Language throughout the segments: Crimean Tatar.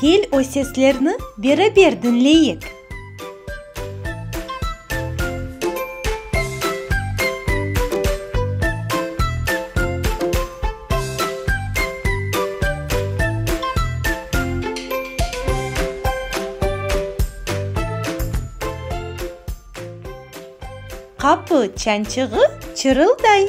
Kel, o seslerni beraber diñleyik. Qapı çançığı çırılday.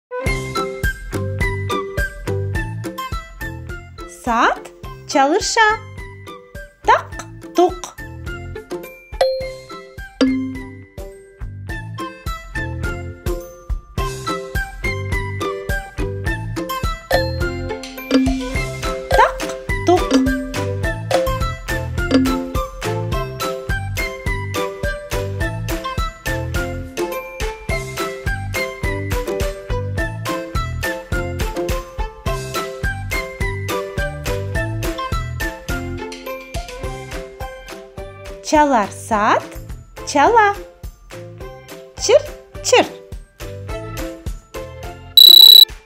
Saat çalışa. Taq-tuq. Taq-tuq. Çalar saat, çala. Çırt, çırt.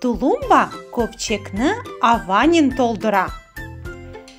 Tulumba köpçekni avanen toldura.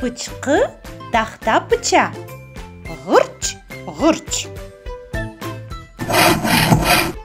Pıçqı tahta pıça, ğırç, ğırç.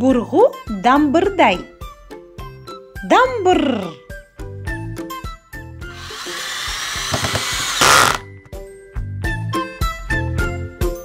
Burğu dambırday, dambırr.